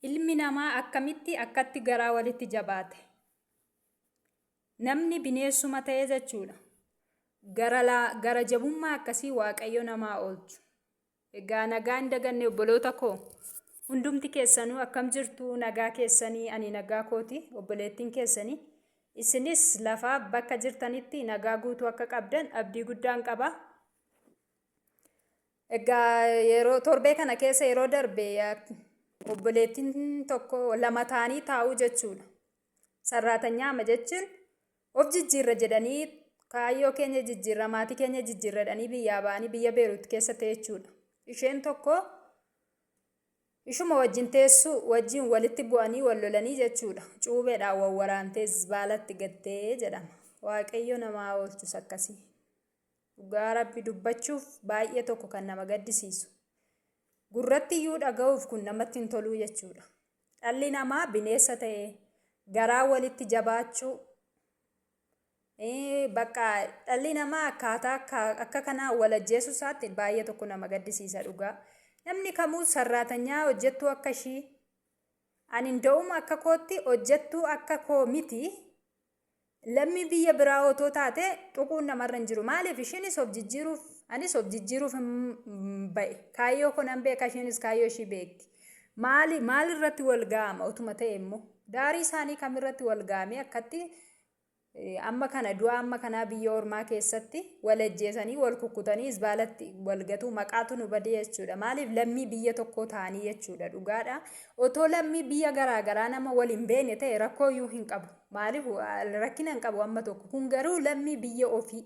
Ilmi namaa akkamitti akkatti garaa walitti jabaate? Namni bineensuma ta'e jechuudha. Gara, laa- gara jabummaa akkasii Waaqayyo namaa oolchu. Egaa nagaa hin daganne obboloota koo. Hundumti keessanuu akkam jirtu nagaa keessanii ani nagaa kooti obboleettiin keessanii. Isinis lafaa bakka jirtanitti nagaa guutuu akka qabdan abdii guddaan qaba. Egaa yeroo torbee kana keessa yeroo darbe obboleettiin tokko lama ta'anii taa'uu jechuudha. Sarraatanyaa ama jechuun of jijjiirra jedhanii kaayyoo keenya jijjiirra maatii keenya jijjiirra jedhanii biyyaa ba'anii biyya Beeruut keessa ta'e jechuudha. Isheen tokko ishuma wajjin teessuu wajjin walitti bu'anii wal lolanii jechuudha. Cuubeedhaan wal waraantee zibaalatti gattee jedhama. Waaqayyo namaa oolchus akkasii. Dhugaa Rabbi dubbachuuf baay'ee tokko kan nama gaddisiisu. Gurratti iyyuu dhaga'uuf kun namatti hin toluu jechuudha. Dhalli namaa bineessa ta'e garaa walitti jabaachuu eh, bakka dhalli namaa akkaataa akka- akka kanaa wal ajjeesuu isaatti baay'ee tokko nama gaddisiisa dhugaa. Namni kamuu sarraatanyaa hojjettuu akka ishii ani nda'uma akka kootti hojjettuu akka koo miti Lammii biyya biraa otoo taate tuquun namarra hin jiru. Maaliif ishiinis of jijjiiruuf anis of jijjiiruuf hin ba'e. Kaayyoo koo nan beeka ishiinis kaayyoo ishii beekti. Maali maal irratti wal ga'ama otuma ta'e immoo daarii isaanii kam irratti wal ga'amee akkatti eh, amma kana du'a amma kanaa biyya ormaa keessatti wal ajjeesanii wal kukkutanii isbaalatti wal gatuu maqaatu nu badee jechuudha. Maaliif lammii biyya tokkoo ta'anii jechuudha dhugaadha. Otoo lammii biyya garaagaraa nama wal hin beekne ta'e rakkoo iyyuu hin qabu. Maaliif rakkina hin qabu amma tokko. Kun garuu lammii biyya ofii.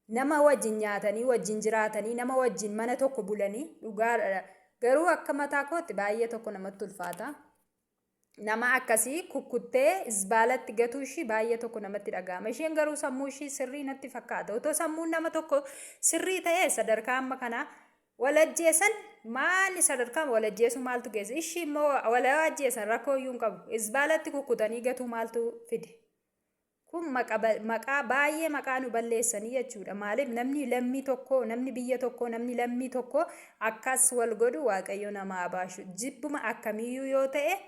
Nama wajjin nyaatanii, wajjin jiraatanii, nama wajjin mana tokko bulanii dhugaadha. Garuu akka mataa kootti baay'ee tokko namatti ulfaata. Nama akkasii kukkuttee zibaalatti gatuu ishii baay'ee tokko namatti dhaga'ama. Isheen garuu sammuu ishii sirrii natti fakkaata. Otoo sammuun nama tokko sirrii ta'e sadarkaa amma kanaa Wal ajjeesan maali sadarkaan wal ajjeesuu maaltu geesse? Ishii immoo wal ajjeesan rakkoo iyyuu hin qabu. Izbaalatti kukkutanii gatuu maaltu fide? Kun maqaa baay'ee maqaa nu balleessanii jechuudha. Maaliif namni lammii tokko, namni biyya tokko, namni lammii tokko akkas wal godhu waaqayyo nama abaashu. Jibbuma akkamiiyyuu yoo ta'e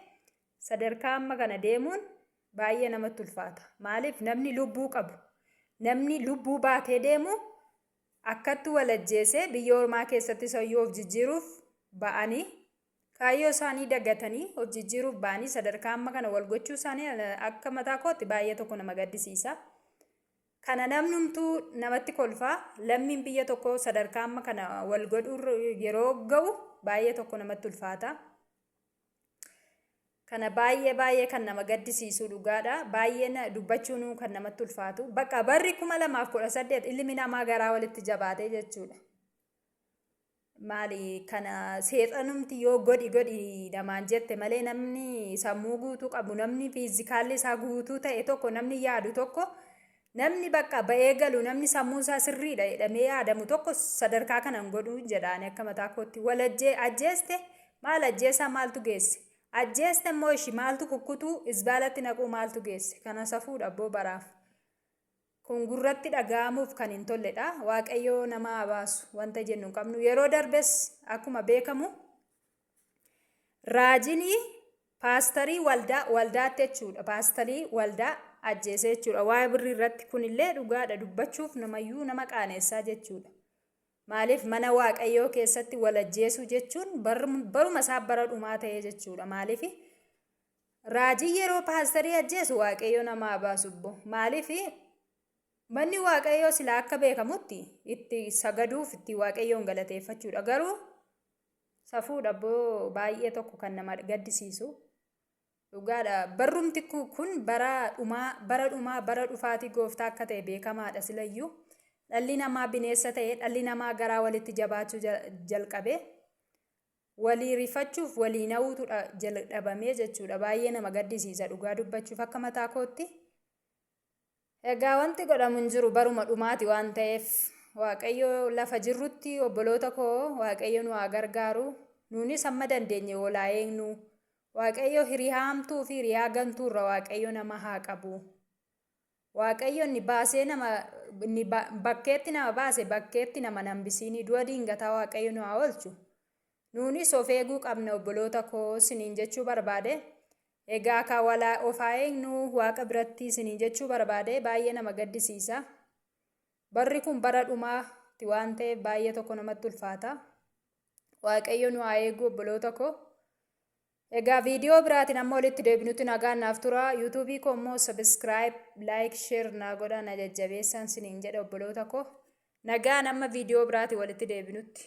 sadarkaa amma kana deemuun baay'ee namatti ulfaata. Maaliif namni lubbuu qabu, namni lubbuu baatee deemu Akkatti wal ajjeese biyya ormaa keessatti isayyuu of jijjiiruuf ba'anii kaayyoo isaanii dagatanii of jijjiiruuf ba'anii sadarkaa amma kana wal gochuu isaanii akka mataa kootti baay'ee tokko nama gaddisiisa. Kana namnumtuu namatti kolfaa lammiin biyya tokko sadarkaa amma kana wal godhuu yeroo ga'u baay'ee tokko namatti ulfaata. Kana baay'ee baay'ee kan nama gaddisiisuu dhugaadha. Baay'een dubbachuunuu kan namatti ulfaatu. Bakka barri 2018 ilmi namaa garaa walitti jabaatee jechuudha. Maali kana seexanumti yoo godhi godhi namaan jette malee namni sammuu guutuu qabu namni fiizikaalli isaa guutuu ta'e tokko namni yaadu tokko Namni bakka ba'ee galu, namni sammuun isaa sirriidha jedhamee yaadamu tokko sadarkaa kana hin godhu jedha ani akka mataa kootti. Wal ajjee ajjeeste maal ajjeesaa maaltu geesse? Ajjeeste immoo ishi maaltu kukkutuu isbaalatti naquu maaltu geesse? Kana safuudha abboo baraaf. Kun gurratti dhaga'amuuf kan hin tolledha. Waaqayyoo nama haa baasu wanta jennu hin qabnu. Yeroo darbes akkuma beekamu Raajinii paastarii waldaa waldaatti jechuudha. Paastarii waldaa ajjeesee jechuudha. Waa'ee birrii irratti kunillee dhugaadha dubbachuuf namayyuu nama qaaneessaa jechuudha. Maaliif mana waaqayyoo keessatti wal ajjeesuu jechuun baruma isaa bara dhumaa ta'ee jechuudha. Maaliif raajii yeroo paastarii ajjeesu waaqayyoo namaa baasu obbo. Maaliif manni waaqayyoo silaa akka beekamutti itti sagaduuf itti waaqayyoon galateeffachuudha. Garuu Safuudha boo baay'ee tokko kan nama gaddisiisu. Dhugaadha barrumti ku- kun bara dhumaa bara dhumaa bara dhufaatii gooftaa akka ta'e beekamaadha silayyuu. Dhalli namaa bineessa ta'e dhalli namaa garaa walitti jabaachuu ja- jalqabe. Walii rifachuuf walii na'uutu dha- jalqabamee jechuudha. Baay'ee nama gaddisiisa dhugaa dubbachuuf akka mataa kootti. Egaa wanti godhamu hin jiru baruma dhumaati waan ta'eef waaqayyo lafa jirrutti obboloota koo waaqayyo nu haa gargaaru nuunis amma dandeenye walaa eegnu waaqayyo hiriyaa hamtuu fi hiriyaa gantuu irra waaqayyo nama haa qabu waaqayyo inni baasee nama inni bakkeetti nama baase bakkeetti nama nambisiinii du'a diingataa waaqayyo nu haa oolchu nuunis of eeguu qabna obboloota koo siniin jechuu barbaade Egaa kaa walaa of haa eegnu waaqa biratti isiniin jechuu barbaade baay'ee nama gaddisiisa. Barri kun bara dhumaa ti waan ta'eef baay'ee tokko namatti ulfaata. Waaqayyo nu haa eegu obboloota koo. Egaa viidiyoo biraatiin amma walitti deebinutti nagaan naaf tura. Yuutuubii koo immoo sabiskiraayib, laayik, sheer naa godhaa na jajjabeessaan siniin jedha obboloota koo. Nagaan amma viidiyoo biraatiin walitti deebinutti.